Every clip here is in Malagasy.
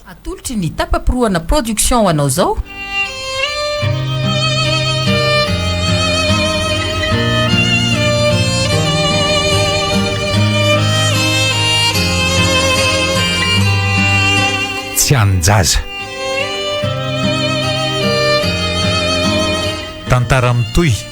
Atolotry ny Tapaporohana Production ho anao izao. Tsy anin-jaza. Tantara mitohy.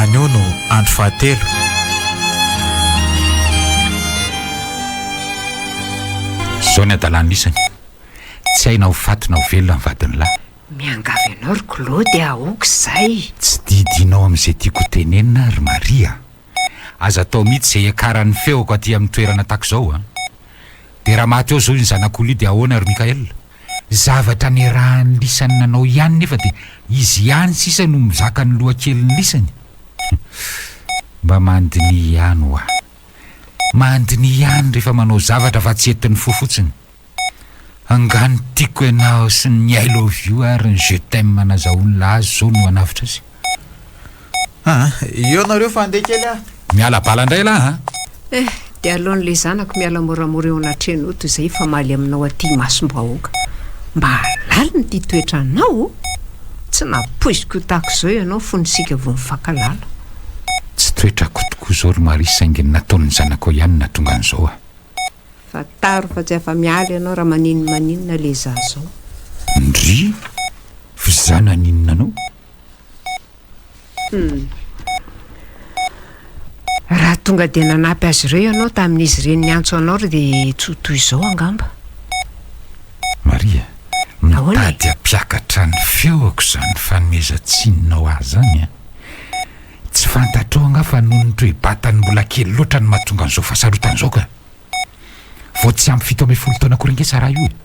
Anio no andro fahatelo. Izao ny hadalàn'ny isany, tsy hay na ho faty na ho velona ny vadin'ny lahy. Miangavy anao ry Claude a, ok izay. Tsy didinao amin'izay tiako ho tenenina aho ry Maria a. Aza atao mihitsy izay hiakaran'ny feoko aty amin'ny toerana tahaka izao a. Dia raha maty ao izao iny zanak'olona io dia ahoana ry Michael? Zavatra niarahan'ny lisany nanao ihany nefa dia izy ihany sisa no mizaka ny lohakelin'ny lisany? Mba mandiniha ihany ho'a! Mandiniha ihany rehefa manao zavatra fa tsy etin'ny fo fotsiny! Angaha ny tiako ianao sy ny I love you ary ny je t'aime nazahoan'ilay azy izao no hanavotra azy? Aa eo nareo fa andeha kely ah. Miala bala ndray lah a. Eh de aleon le zanako miala moramora eo anatreno to zay hifamaly aminao aty imasombahoaka mba alaliny ty toetra anao o tsy napoiziko ho tahako zao ianao fony isika vo nifankalala. Tsy toetrako tokoa zao ry Marie saingy ny nataon'ny zanakao ihany nahatonga an'izao a. Fantaro fa tsy afa miala ianao raha maninona maninona le za zao. Ndrii! F'za naninona anao? Raha tonga dia nanampy azy ireo ianao tamin'izy ireny niantso anao ireo dia tsy ho toy izao angamba. Maria, mitady hampiakatra ny feoko izany fanomezan-tsininao ahy izany an! Tsy fantatrao angaha fa noho ny toe-batany mbola kely loatra no mahatonga an'izao fahasarotan'izao ka! Vao tsy ampy fito ambin'ny folo taona akory ange Sarah io e!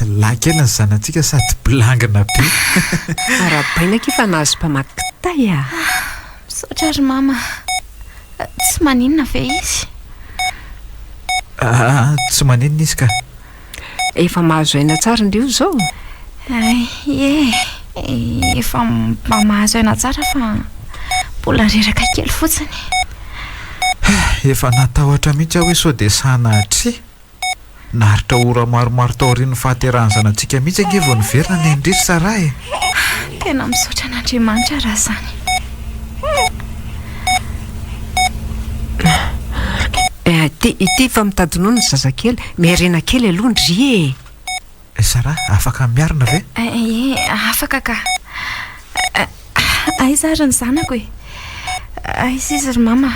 Lahy kely ny zanatsika sady bilangina be. Arahabaina akia fa nahazo mpamaky kitay a! Misaotra ry Mama. Tsy maninona ve izy? Aa, tsy maninona izy ka. Efa mahazo aina tsara indry io izao? Ie, efa mba mahazo aina tsara fa mbola reraka kely fotsiny. Efa natahotra mihitsy aho hoe sao dia sahy nahatria. Naharitra ora maromaro taorian'ny fahaterahan'ny zanatsika mihitsy ange vao niverina ny ain-dry ry Sarah e! Tena misaotra an'Andriamanitra raha izany. Ity, ity efa mitady nono ny zazakely. Miairena kely aloha ndry e! Sara, afaka miarina ve? Ie, afaka ka. Aiza ary ny zanako e? Aiza izy ry mama?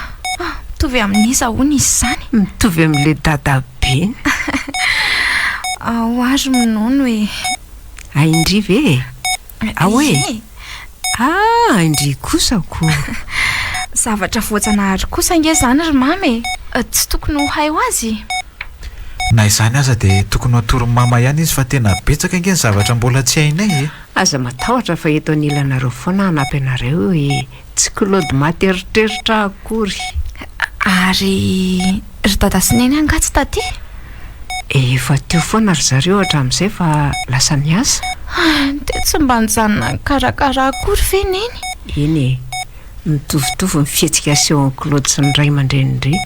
Mitovy amin'iza hono izy izany? Mitovy amin'ilay dadabeny. Ao ary minono e. Ain-dry ve e? Ao e! Ah! Indrey kosa ko! Zavatra voajanahary kosa ange izany ry mama e! Tsy tokony ho hay ho azy? Na izany aza dia tokony hatorin'i mama ihany izy fa tena betsaka ange ny zavatra mbola tsy hainay e! Aza matahotra fa eto anilanareo foana hanampy anareo e! Tsy Claude maty eritreritra akory. Ary ry dada sy neny angaha tsy taty? Efa teo foana ry zareo hatramin'izay fa lasa niasa. Dia tsy mba nijanona nikarakara akory ve neny? Eny e, mitovitovy ny fihetsika asehon'i Claude sy ny ray aman-drenindry.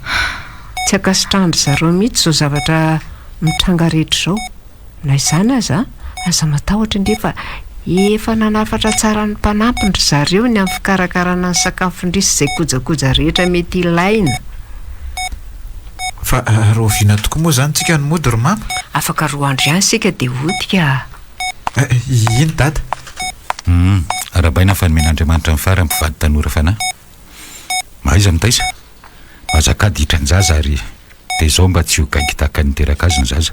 Tsy ankasitrahan-dry zareo mihitsy izao zavatra mitranga rehetra izao. Na izany aza, aza matahotra indray fa efa nanafatra tsara ny mpanampiny ry zareo ny amin'ny fikarakarana ny sakafon-dry sy izay kojakoja rehetra mety ilaina. Fa rahoviana tokoa moa izany tsika no mody ry Mama? Afaka roa andro ihany isika dia hody ka. Iny Dada. Humm, arahabaina fa nomen'Andriamanitra ny fara ny mpivady tanora fanahy. Mahaiza mitaiza. Mahazaka ady hitra ny zaza ary dia izao mba tsy ho gaigy tahaka ny niteraka azy ny zaza.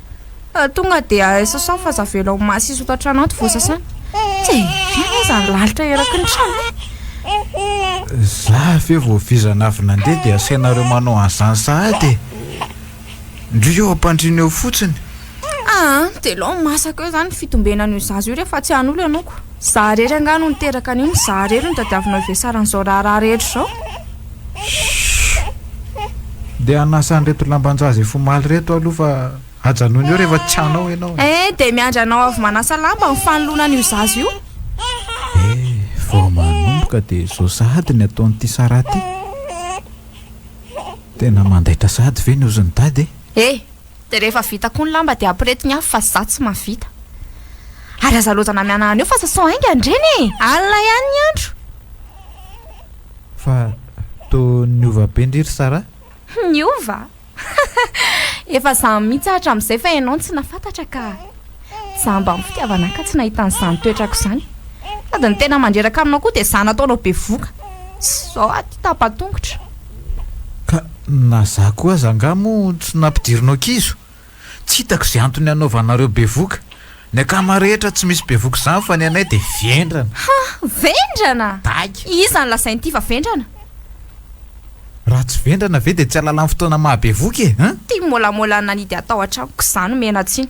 Fa tonga dia sasao fa aza avela ho masy hisotro an-trano ato vao sasana. Tsy efa aza ny lalitra eraky ny trano. Za ve vao vizana avy nandeha dia asainareo manao an'izany sahady e. Ndry eo ampandriana eo fotsiny. Aa, dia lao masaka eo izany ny fitombenan'io zaza io rehefa tsy an'olona ianao ko. Za irery angaha no niteraka an'io no za irery no tadiavinao hivesaran'izao raharaha rehetra izao? Shhh! Dia hanasa an'ireto lamban-jaza efa omaly ireto aho aloha fa ajanony eo rehefa tsy hanao ianao e! Eh! Dia miandry anao avy manasa lamba ny fanoloana an'io zaza io? Eh! Vao manomboka dia izao sahady ny ataon'ity Sarah ity! Tena mandaitra sahady ve ny ozin'i Dada e! Eh! Dia rehefa vita koa ny lamba dia ampirety ny afo fa izaho tsy mahavita. Ary aza loza namiana anio fa sasao hainga ny reny e! Alina ihany ny andro. Fa toa niova be ndry ry Sarah? Niova? Efa izaho mihitsy aho hatramin'izay fa ianao no tsy nahafantatra ka! Jamba amin'ny fitiavana ahy ka tsy nahita an'izany toetrako izany. Sady ny tena mandreraka aminao koa dia izaho nataonao bevoka. Tsy izao aho ity tapa-tongotra. Ka na izaho koa aza angaha moa tsy nampidirinao kizo? Tsy hitako izay antony hanaovanareo bevoka. Ny akama rehetra tsy misy bevoka izany fa ny anay dia vendrana. Ha! Vendrana? Daika. Iza no lazain'ity fa vendrana? Raha tsy vendrana ve dia tsy halalan'ny fotoana maha-bevoka e! Tia môlamôla nanidy hatao an-tranoko, izaho no mihenan-tsiny.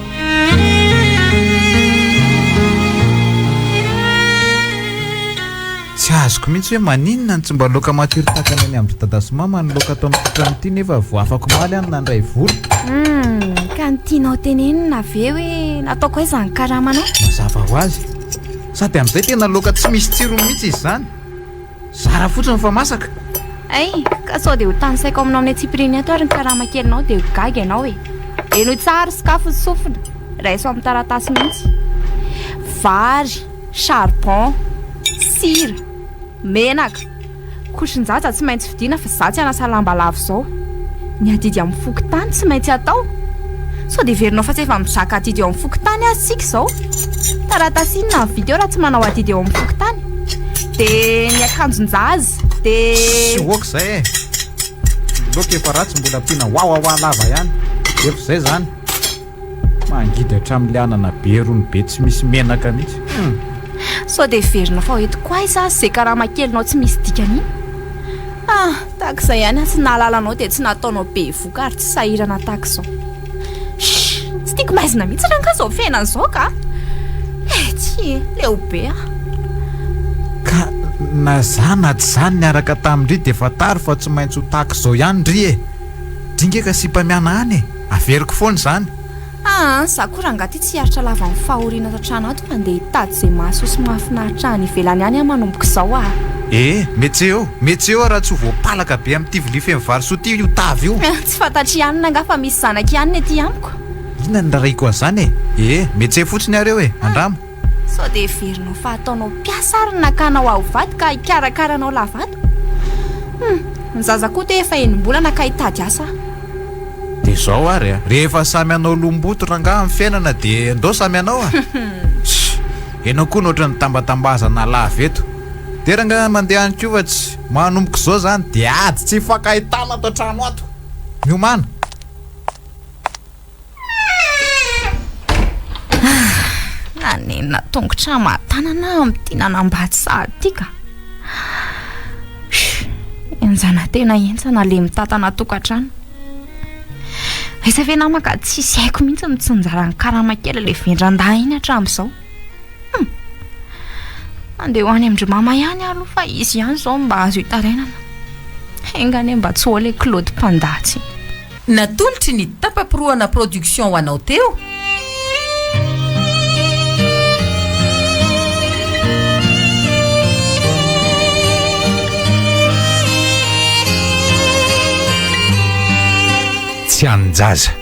Tsy azoko mihitsy hoe maninona no tsy mba loaka matiry tahaka ny any amin-dry dada sy mama ny loaka ato amin'ny toetrany ity nefa vao afaka omaly aho no nandray vola. Hum, ka ny tianao tenenina ve hoe nataoko aiza ny karamanao? Mazava ho azy. Sady amin'izay tena loaka tsy misy tsirony mihitsy izy izany. Zara fotsiny fa masaka. Hay ka sao dia ho tanisaiko aminao amin'ny antsipiriany ato ary ny karama kelinao dia ho gaga ianao e. Henoy tsara ry sokafy ny sofina. Raiso amin'ny taratasy mihitsy. Vary, charbon, sira, menaka. Kosin-jaza tsy maintsy vidiana fa za tsy hanasa lamba lava izao. Ny adidy amin'ny fokontany tsy maintsy atao. Sao dia heverinao fa tsy efa mizaka adidy eo amin'ny fokontany ary isika izao? Taratasy inona no vita eo raha tsy manao adidy eo amin'ny fokontany? dia ny akanjon-jaza dia tsy ok zay e loka efa ratsy mbola ampiana wawawa lava ihany efa zay zany mangidy hatramin'le anana be rony be tsy misy menaka mihitsy hmm. sao dia verina fa hoentiko aiza azy zay karama kelinao tsy misy dikany iny ah takizay ihany atsy nahalalanao dia tsy nataonao be voka ary tsy sahirana takizao Tsy tiako maizina mihitsy rangahy izao fiainana izao ka. Eh, tsy e, leo be aho. Ka na zany na tsy zany niaraka tamin-dry dia fantaro fa tsy maintsy ho tahaka izao ihany ry e. Dringa ka sipa miana any e, averiko foana izany. Aa, za koa rangahy ty tsy hiaritra lava amin'ny fahoriana ato an-trano ato fa ndeha hitady izay mahasoa sy mahafinaritra any ivelany any aho manomboka izao aa. Eh, metseo, metseo raha tsy ho voapalaka be amin'ity vilia feno vary soa ity io tavy io. Tsy fantatry ianona angaha fa misy zanaka ianona ety amiko? Inona ny rarahiako an'izany e? Ee, metse fotsiny ary eo e, andramo. Sao dia heverinao fa ataonao mpiasa ary ny nakanao aho vady ka hikarakara anao lavato? Hum, ny zaza koa te efa enim-bolana ka hitady asa aho. Dia izao ary a! Rehefa samy hanao lom-boto rangahy amin'ny fiainana dia ndao samy hanao a! Sh! Ianao koa no ohatran'ny tambatambazana lava eto. Dia rangahy mandeha any koa fa tsy. Manomboka izao izany dia ady tsy hifankahitana ato an-trano ato, miomàna. Nanenina tongotra aman-tanana aho amin'ity nanambady sahady ity ka. Henjana tena henjana le mitantana tokantrano. Aiza ve namaka tsisy haiko mihitsy mitsinjara ny karama kely le vendran-dahy iny hatramin'izao. Hum! Andeha ho any amin-dry mama ihany aho aloha fa izy ihany izao mba azo hitarainana. Enga anie mba tsy ho ao ilay Claude Panda tsy. Natolotry ny Tampaporohana Production ho anao teo. Tsy anin-jaza.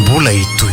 Mbola hitohy.